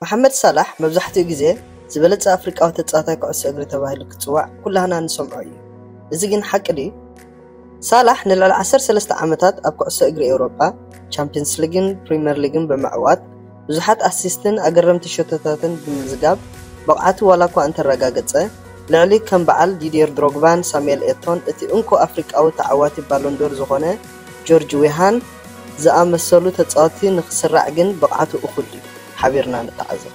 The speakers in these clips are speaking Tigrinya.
መሓመድ ሳላሕ መብዛሕትኡ ግዜ ዝበለጸ ኣፍሪቃዊ ተጻዋታይ ኩዕሶ እግሪ ተባሂሉ ክጽዋዕ ኩላህና ንሰምዖ እዩ። እዚ ግን ሓቂ ድዩ? ሳላሕ ንልዕሊ ዓሰርተ ሰለስተ ዓመታት ኣብ ኩዕሶ እግሪ ኤውሮጳ፣ ቻምፕየንስ ሊግን ፕሪመር ሊግን ብምዕዋት፣ ብዙሓት ኣሲስትን ኣገረምቲ ሸቶታትን ብምምዝጋብ ብቕዓቱ ዋላኳ እንተረጋገጸ፣ ልዕሊ ከም በዓል ዲድየር ድሮግባን ሳሙኤል ኤቶን እቲ እንኮ ኣፍሪቃዊ ተዓዋቲ ባሎንዶር ዝኾነ ጆርጅ ዌሃን ዝኣመሰሉ ተጻወትቲ ንኽስራዕ ግን ብቕዓቱ እኹል ድዩ? ሓቢርና ንተዓዘብ።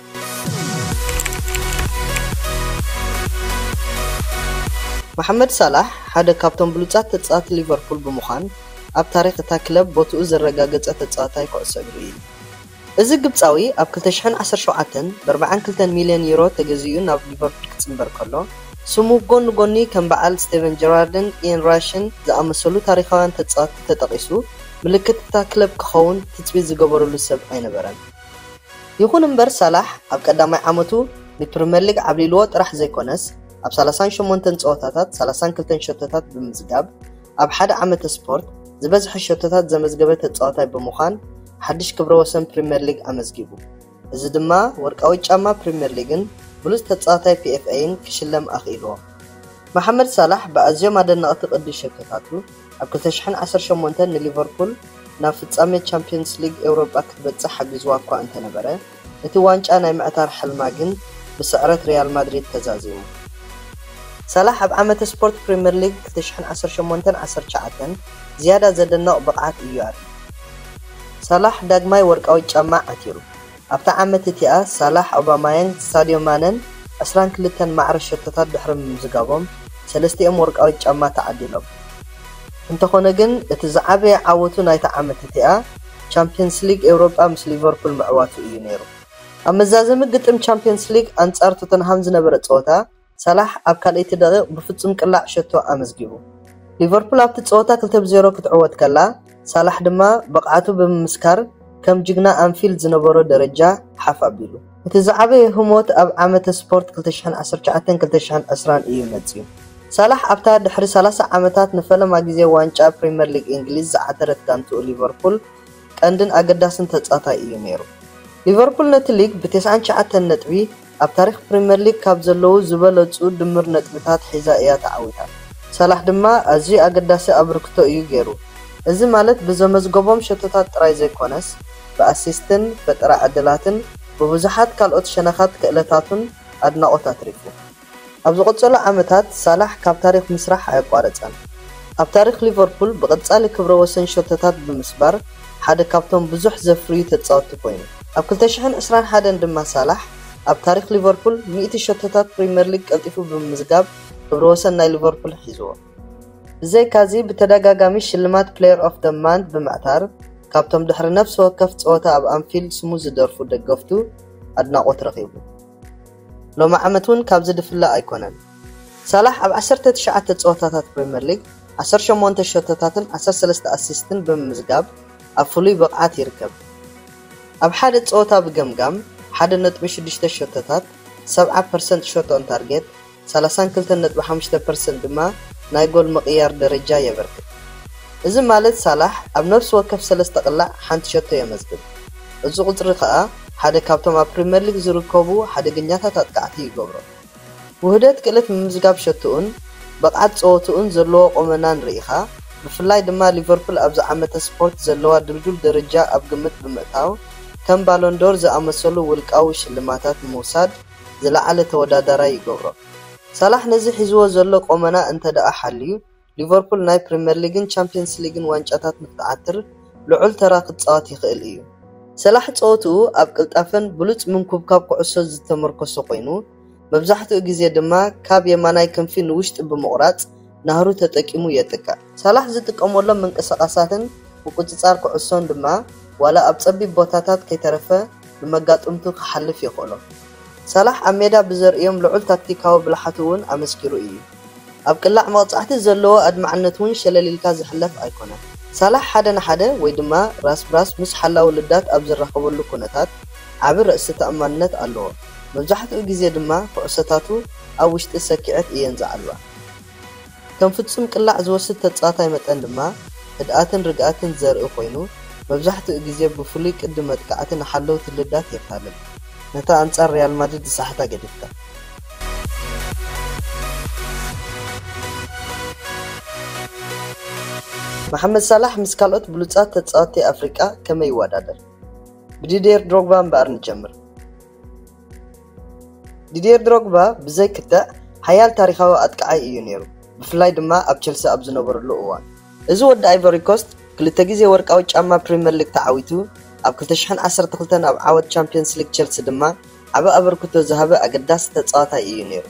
መሓመድ ሳላሕ ሓደ ካብቶም ብሉጻት ተጻወትቲ ሊቨርፑል ብምዃን ኣብ ታሪኽ እታ ክለብ ቦትኡ ዘረጋገጸ ተጻዋታይ ኩዕሶ እግሪ እዩ። እዚ ግብጻዊ ኣብ ክልተ ሽሕን ዓሰርተ ሸውዓተን ብ ኣርባዓን ክልተን ሚልዮን ዩሮ ተገዚኡ ናብ ሊቨርፑል ክጽንበር ከሎ፣ ስሙ ብ ጎኒ ጎኒ ከም በዓል ስቴቨን ጀራርድን ኢየን ራሽን ዝኣመሰሉ ታሪኻውያን ተጻወትቲ ተጠቒሱ ምልክት እታ ክለብ ክኸውን ትጽቢት ዝገበርሉ ሰብ ኣይነበረን። ይኹን እምበር ሳላሕ ኣብ ቀዳማይ ዓመቱ ብ ፕሪመር ሊግ ዓብሊልዎ ጥራሕ ዘይኮነስ ኣብ ሰላሳን ሸሞንተን ጸወታታት ሰላሳን ክልተን ሸቶታት ብምዝጋብ ኣብ ሓደ ዓመተ ስፖርት ዝበዝሐ ሸቶታት ዘመዝገበ ተጻዋታይ ብምዃን ሓድሽ ክብረ ወሰን ፕሪምየር ሊግ ኣመዝጊቡ። እዚ ድማ ወርቃዊ ጫማ ፕሪምየር ሊግን ብሉጽ ተጻዋታይ ፒኤፍኤይን ክሽለም ኣኽኢልዎ። መሓመድ ሳላሕ ብኣዝዮም ኣደነቕቲ ቅዲ ሸቶታቱ ኣብ ክልተ ሽሕን ዓሰርተ ሸሞንተን ንሊቨርፑል ናብ ፍጻመ ቻምፕዮንስ ሊግ ኤውሮጳ ክትበጽሕ ሓጊዝዋ'ኳ እንተነበረ፣ እቲ ዋንጫ ናይ ምዕታር ሕልማ ግን ብስዕረት ሪያል ማድሪድ ተዛዚሙ። ሳላሕ ኣብ ዓመተ ስፖርት ፕሪመር ሊግ ክልተ ሽሕን ዓሰርተ ሸሞንተን ዓሰርተ ትሽዓተን ዝያዳ ዘደንቕ ብቕዓት እዩ ኣርእዩ። ሳላሕ ዳግማይ ወርቃዊት ጫማ ዓቲሩ። ኣብታ ዓመት እቲኣ ሳላሕ፣ ኦባማያንግ፣ ሳድዮ ማነን ዕስራን ክልተን ማዕረ ሸቶታት ድሕሪ ምምዝጋቦም ሰለስቲኦም ወርቃዊት ጫማ ተዓዲሎም። እንተኾነ ግን እቲ ዝዓበየ ዓወቱ ናይታ ዓመት እቲኣ፣ ቻምፕየንስ ሊግ ኤውሮጳ ምስ ሊቨርፑል ምዕዋቱ እዩ ነይሩ። ኣብ መዛዘሚ ግጥም ቻምፕየንስ ሊግ ኣንጻር ቶተንሃም ዝነበረ ጸወታ፣ ሳላሕ ኣብ ካልኣይቲ ደቒቕ ብፍጹም ቅላዕ ሸቶ ኣመዝጊቡ። ሊቨርፑል ኣብቲ ጸወታ ክልተ ብ ዜሮ ክትዕወት ከላ፣ ሳላሕ ድማ ብቕዓቱ ብምምስካር ከም ጅግና ኣንፊልድ ዝነበሮ ደረጃ ሓፍ ኣቢሉ። እቲ ዝዓበየ ህሞት ኣብ ዓመተ ስፖርት ክልተ ሽሕን ዓሰርተ ትሽዓተን ክልተ ሽሕን ዕስራን እዩ መጺኡ። ሳላሕ ኣብታ ድሕሪ ሰላሳ ዓመታት ንፈለማ ግዜ ዋንጫ ፕሪመር ሊግ እንግሊዝ ዝዓተረት ጋንትኡ ሊቨርፑል ቀንድን ኣገዳስን ተጻታይ እዩ ነይሩ። ሊቨርፑል ነቲ ሊግ ብ ተስዓን ትሽዓተን ነጥቢ ኣብ ታሪኽ ፕሪመር ሊግ ካብ ዘለዉ ዝበለጹ ድምር ነጥብታት ሒዛ እያ ተዓዊታ። ሳላሕ ድማ ኣዝዩ ኣገዳሲ ኣብርክቶ እዩ ገይሩ። እዚ ማለት ብዘመዝገቦም ሸቶታት ጥራይ ዘይኮነስ፣ ብኣሲስትን ፈጠራ ዕድላትን ብብዙሓት ካልኦት ሸነኻት ክእለታቱን ኣድናቖት ኣትሪፉ። ኣብ ዝቕጸሉ ዓመታት ሳላሕ ካብ ታሪኽ ምስራሕ ኣየቋረጸን። ኣብ ታሪኽ ሊቨርፑል ብቐጻሊ ክብረ ወሰን ሸቶታት ብምስባር ሓደ ካብቶም ብዙሕ ዘፍርዩ ተጻወትቲ ኮይኑ። ኣብ ክልተ ሽሕን ዕስራን ሓደን ድማ ሳላሕ ኣብ ታሪኽ ሊቨርፑል ሚእቲ ሸቶታት ፕሪመር ሊግ ቀልጢፉ ብምምዝጋብ ክብረ ወሰን ናይ ሊቨርፑል ሒዝዎ። ብዘይካዚ ብተደጋጋሚ ሽልማት ፕለየር ኦፍ ዘ ማንት ብምዕታር ካብቶም ድሕሪ ነፍሲ ወከፍ ጸወታ ኣብ ኣንፊልድ ስሙ ዝደርፉ ደገፍቱ ኣድናቖት ረኺቡ። ሎሚ ዓመት እውን ካብዚ ድፍለ ኣይኮነን። ሳላሕ ኣብ ዓሰርተ ትሽዓተ ጸወታታት ፕሪምየር ሊግ ዓሰርተ ሸሞንተ ሸቶታትን ዓሰርተ ሰለስተ ኣሲስትን ብምምዝጋብ ኣብ ፍሉይ ብቕዓት ይርከብ። ኣብ ሓደ ጸወታ ብገምጋም ሓደ ነጥቢ ሽዱሽተ ሸቶታት፣ ሰብዓ ፐርሰንት ሾት ኦን ታርጌት፣ ሰላሳን ክልተን ነጥቢ ሓሙሽተ ፐርሰንት ድማ ናይ ጎል ምቕያር ደረጃ የበርክት። እዚ ማለት ሳላሕ ኣብ ነፍሲ ወከፍ ሰለስተ ቅላዕ ሓንቲ ሸቶ የመዝግብ። እዚ ቁጽሪ ከኣ ሓደ ካብቶም ኣብ ፕሪመር ሊግ ዝርከቡ ሓደገኛታት ኣጥቃዕቲ ይገብሮ። ውህደት ክእለት ምምዝጋብ ሸቶኡን ብቕዓት ጸወትኡን ዘለዎ ቁመናን ርኢኻ፣ ብፍላይ ድማ ሊቨርፑል ኣብዚ ዓመተ ስፖርት ዘለዋ ድልዱል ደረጃ ኣብ ግምት ብምእታው ከም ባሎን ዶር ዝኣመሰሉ ውልቃዊ ሽልማታት ንምውሳድ ዝለዓለ ተወዳዳራይ ይገብሮ። ሳላሕ ነዚ ሒዝዎ ዘሎ ቈመና እንተድኣ ሓልዩ፣ ሊቨርፑል ናይ ፕሪምየር ሊግን ቻምፕየንስ ሊግን ዋንጫታት ንኽትዓትር ልዑል ተራ ክጻወት ይኽእል እዩ። ሳላሕ ጸወትኡ ኣብ ቅልጣፈን ብሉጽ ምንኩብካብ ኩዕሶን ዝተመርኮሰ ኰይኑ፣ መብዛሕትኡ ግዜ ድማ ካብ የማናይ ክንፊ ንውሽጢ ብምቝራጽ፣ ናህሩ ተጠቂሙ የጥቅዕ። ሳላሕ ዝጥቀመሎም ምንቅስቓሳትን ምቁጽጻር ኩዕሶን ድማ ዋላ ኣብ ጸቢብ ቦታታት ከይተረፈ ንመጋጥምቱ ክሓልፍ የኽእሎ። ሳላሕ ኣብ ሜዳ ብዘርእዮም ልዑል ታክቲካዊ ብልሓት'ውን ኣመስኪሩ እዩ። ኣብ ቅላዕ መቕጻዕቲ ዘለዎ ኣድማዕነት'ውን ሸለል ኢልካ ዝሕለፍ ኣይኮነን። ሳላሕ ሓደ ንሓደ ወይ ድማ ራስ ብራስ ምስ ሓላዊ ልዳት ኣብ ዝራኸበሉ ኩነታት ዓቢ ርእሰ ተኣማንነት ኣለዎ። መብዛሕትኡ ግዜ ድማ ኩዕሶታቱ ኣብ ውሽጢ ሰኪዔት እየን ዝዓልባ። ከም ፍጹም ቅላዕ ዝወስድ ተጻዋታይ መጠን ድማ፣ ህድኣትን ርግኣትን ዘርኢ ኮይኑ፣ መብዛሕትኡ ግዜ ብፍሉይ ቅዲ መጥቃዕቲ ንሓለውቲ ልዳት የታልል፣ ነታ ኣንጻር ሪያል ማድሪድ ዝሰሓታ ገዲፍካ። መሓመድ ሳላሕ ምስ ካልኦት ብሉጻት ተጻወትቲ ኣፍሪቃ ከመይ ይወዳደር? ብዲድየር ድሮግባ እምበኣር ንጀምር። ዲድየር ድሮግባ ብዘይ ክትዕ ሓያል ታሪኻዊ ኣጥቃዓይ እዩ ነይሩ፣ ብፍላይ ድማ ኣብ ቸልሲ ኣብ ዝነበረሉ እዋን። እዚ ወዲ ኣይቮሪኮስት ክልተ ግዜ ወርቃዊ ጫማ ፕሪመር ሊግ ተዓዊቱ፣ ኣብ ክልተ ሽሕን ዓሰርተ ክልተን ኣብ ዓወት ቻምፕዮንስ ሊግ ቸልሲ ድማ ዓቢ ኣበርክቶ ዝሃበ ኣገዳሲ ተጻዋታይ እዩ ነይሩ።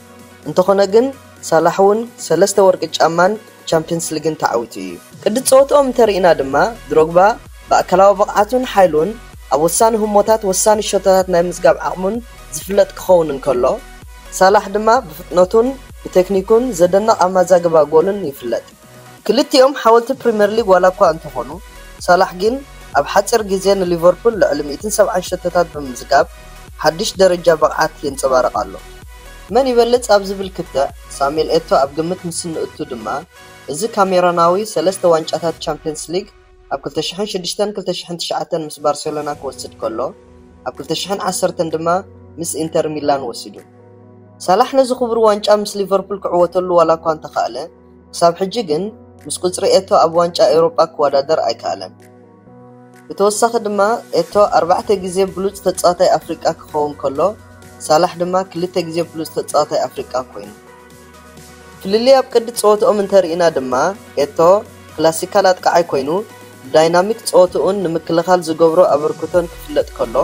እንተኾነ ግን ሳላሕ'ውን ሰለስተ ወርቂ ጫማን ቻምፕየንስ ሊግን ተዓዊቱ እዩ። ቅዲ ጸወትኦም እንተርኢና ድማ ድሮግባ ብኣካላዊ ብቕዓቱን ሓይሉን፣ ኣብ ወሳኒ ህሞታት ወሳኒ ሸቶታት ናይ ምዝጋብ ዓቕሙን ዝፍለጥ ክኸውን እንከሎ፣ ሳላሕ ድማ ብፍጥነቱን ብቴክኒኩን ዘደንቕ ኣመዛግባ ጎልን ይፍለጥ። ክልቲኦም ሓወልቲ ፕሪመር ሊግ ዋላኳ እንተኾኑ፣ ሳላሕ ግን ኣብ ሓጺር ግዜ ንሊቨርፑል ልዕሊ ሚእትን ሰብዓን ሸቶታት ብምምዝጋብ ሓድሽ ደረጃ ብቕዓት የንጸባርቕ ኣሎ። መን ይበልጽ ኣብ ዝብል ክትዕ ሳሙኤል ኤቶ ኣብ ግምት ምስ እንእቱ ድማ፣ እዚ ካሜሮናዊ ሰለስተ ዋንጫታት ቻምፕዮንስ ሊግ፣ ኣብ ክልተ ሽሕን ሽዱሽተን ክልተ ሽሕን ትሽዓተን ምስ ባርሴሎና ክወስድ ከሎ፣ ኣብ ክልተ ሽሕን ዓሰርተን ድማ ምስ ኢንተር ሚላን ወሲዱ። ሳላሕ ነዚ ክቡር ዋንጫ ምስ ሊቨርፑል ክዕወተሉ ዋላኳ እንተኻእለ፣ ክሳብ ሕጂ ግን ምስ ቁጽሪ ኤቶ ኣብ ዋንጫ ኤውሮጳ ክወዳደር ኣይከኣለን። ብተወሳኺ ድማ ኤቶ ኣርባዕተ ግዜ ብሉጽ ተጻዋታይ ኣፍሪቃ ክኸውን ከሎ፣ ሳላሕ ድማ ክልተ ግዜ ብሉጽ ተጻዋታይ ኣፍሪቃ ኮይኑ። ፍልልይ ኣብ ቅዲ ጸወትኦም እንተርኢና ድማ ኤቶ ክላሲካል ኣጥቃዓይ ኮይኑ ብዳይናሚክ ጸወትኡን ንምክልኻል ዝገብሮ ኣበርክቶን ክፍለጥ ከሎ፣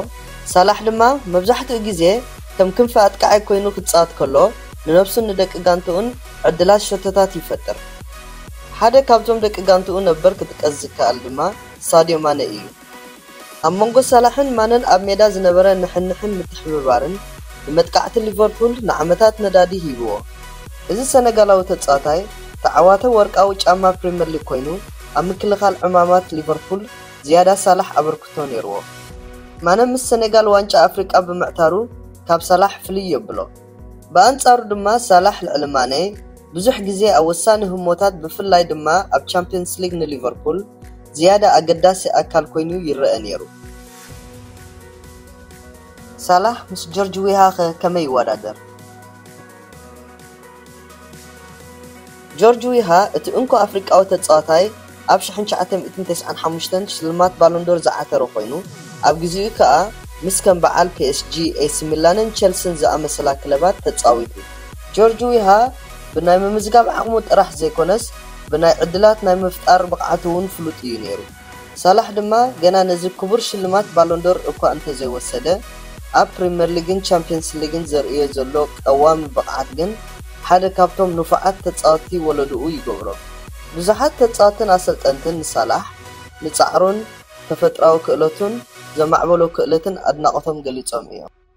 ሳላሕ ድማ መብዛሕትኡ ግዜ ከም ክንፊ ኣጥቃዓይ ኮይኑ ክጻወት ከሎ ንነብሱን ንደቂ ጋንትኡን ዕድላት ሸቶታት ይፈጥር። ሓደ ካብቶም ደቂ ጋንትኡ ነበር ክጥቀስ ዝከኣል ድማ ሳድዮ ማነ ኢዩ። ኣብ መንጎ ሳላሕን ማነን ኣብ ሜዳ ዝነበረ ንሕንሕን ምትሕብባርን ንመጥቃዕቲ ሊቨርፑል ንዓመታት ነዳዲ ሂብዎ። እዚ ሰነጋላዊ ተጻዋታይ ተዓዋተ ወርቃዊ ጫማ ፕሪመር ሊግ ኮይኑ ኣብ ምክልኻል ዕማማት ሊቨርፑል ዝያዳ ሳላሕ ኣበርክቶ ኔርዎ። ማነ ምስ ሰኔጋል ዋንጫ ኣፍሪቃ ብምዕታሩ ካብ ሳላሕ ፍልይ የብሎ። ብኣንጻሩ ድማ ሳላሕ ልዕሊ ማኔ ብዙሕ ግዜ ኣብ ወሳኒ ህሞታት ብፍላይ ድማ ኣብ ቻምፕዮንስ ሊግ ንሊቨርፑል ዝያዳ ኣገዳሲ ኣካል ኰይኑ ይረኣ ነይሩ። ሳላሕ ምስ ጆርጅ ዊሃ'ኸ ከመይ ይወዳደር? ጆርጅ ዊሃ፣ እቲ እንኮ ኣፍሪቃዊ ተጻዋታይ ኣብ ሽሕን ትሽዓተ ሚእትን ተስዓን ሓሙሽተን ሽልማት ባሎን ዶር ዝዓተረ ኮይኑ፣ ኣብ ግዜኡ ከኣ ምስ ከም በዓል ፒኤስጂ፣ ኤሲ ሚላንን ቸልሲን ዝኣመሰላ ክለባት ተጻዊቱ። ጆርጅ ዊሃ ብናይ ምምዝጋብ ዓቕሙ ጥራሕ ዘይኮነስ፣ ብናይ ዕድላት ናይ ምፍጣር ብቕዓቱ'ውን ፍሉጥ እዩ ነይሩ። ሳላሕ ድማ ገና ነዚ ክቡር ሽልማት ባሎንዶር እኳ እንተዘይወሰደ፣ ኣብ ፕሪመር ሊግን ቻምፕየንስ ሊግን ዘርእዮ ዘሎ ቀዋሚ ብቕዓት ግን ሓደ ካብቶም ንፉዓት ተጻወትቲ ወለድኡ ይገብሮ። ብዙሓት ተጻወትትን ኣሰልጠንትን ንሳላሕ ንጻዕሩን ተፈጥሮኣዊ ክእለቱን ዘማዕበሎ ክእለትን ኣድናቖቶም ገሊጾም እዮም።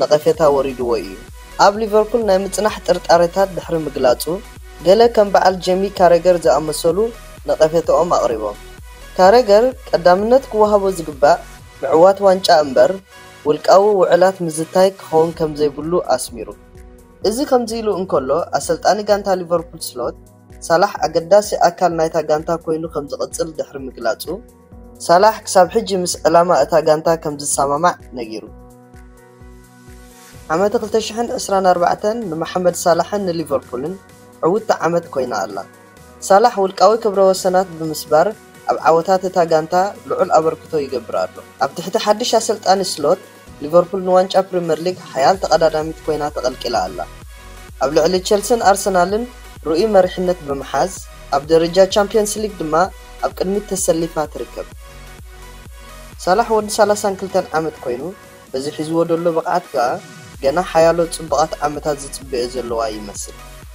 ነቐፌታ ወሪድዎ እዩ። ኣብ ሊቨርፑል ናይ ምጽናሕ ጥርጣሬታት ድሕሪ ምግላጹ፣ ገለ ከም በዓል ጀሚ ካረገር ዝኣመሰሉ ነቐፌታኦም ኣቕሪቦም። ካረገር ቀዳምነት ክወሃቦ ዝግባእ ምዕዋት ዋንጫ እምበር ውልቃዊ ውዕላት ምዝታይ ክኸውን ከምዘይብሉ ኣስሚሩ። እዚ ከምዚ ኢሉ እንከሎ፣ ኣሰልጣኒ ጋንታ ሊቨርፑል ስሎት፣ ሳላሕ ኣገዳሲ ኣካል ናይታ ጋንታ ኰይኑ ከምዝቕጽል ድሕሪ ምግላጹ፣ ሳላሕ ክሳብ ሕጂ ምስ ዕላማ እታ ጋንታ ከምዝሰማማዕ ነጊሩ። ዓመተ ክልተ ሽሕን ዕስራን ኣርባዕተን ንመሓመድ ሳላሕን ንሊቨርፑልን ዕውትቲ ዓመት ኮይና ኣላ። ሳላሕ ውልቃዊ ክብረ ወሰናት ብምስባር ኣብ ዓወታት እታ ጋንታ ልዑል ኣበርክቶ ይገብር ኣሎ። ኣብ ትሕቲ ሓድሽ ኣሰልጣኒ ስሎት፣ ሊቨርፑል ንዋንጫ ፕሪመር ሊግ ሓያል ተቐዳዳሚት ኮይና ተቐልቂላ ኣላ። ኣብ ልዕሊ ቸልሲን ኣርሰናልን ርኡይ መሪሕነት ብምሓዝ፣ ኣብ ደረጃ ቻምፕዮንስ ሊግ ድማ ኣብ ቅድሚት ተሰሊፋ ትርከብ። ሳላሕ ወዲ ሰላሳን ክልተን ዓመት ኮይኑ፣ በዚ ሒዝዎ ዘሎ ብቕዓት ከኣ ገና ሓያሎ ጽቡቓት ዓመታት ዝጽበዮ ዘለዋ ይመስል።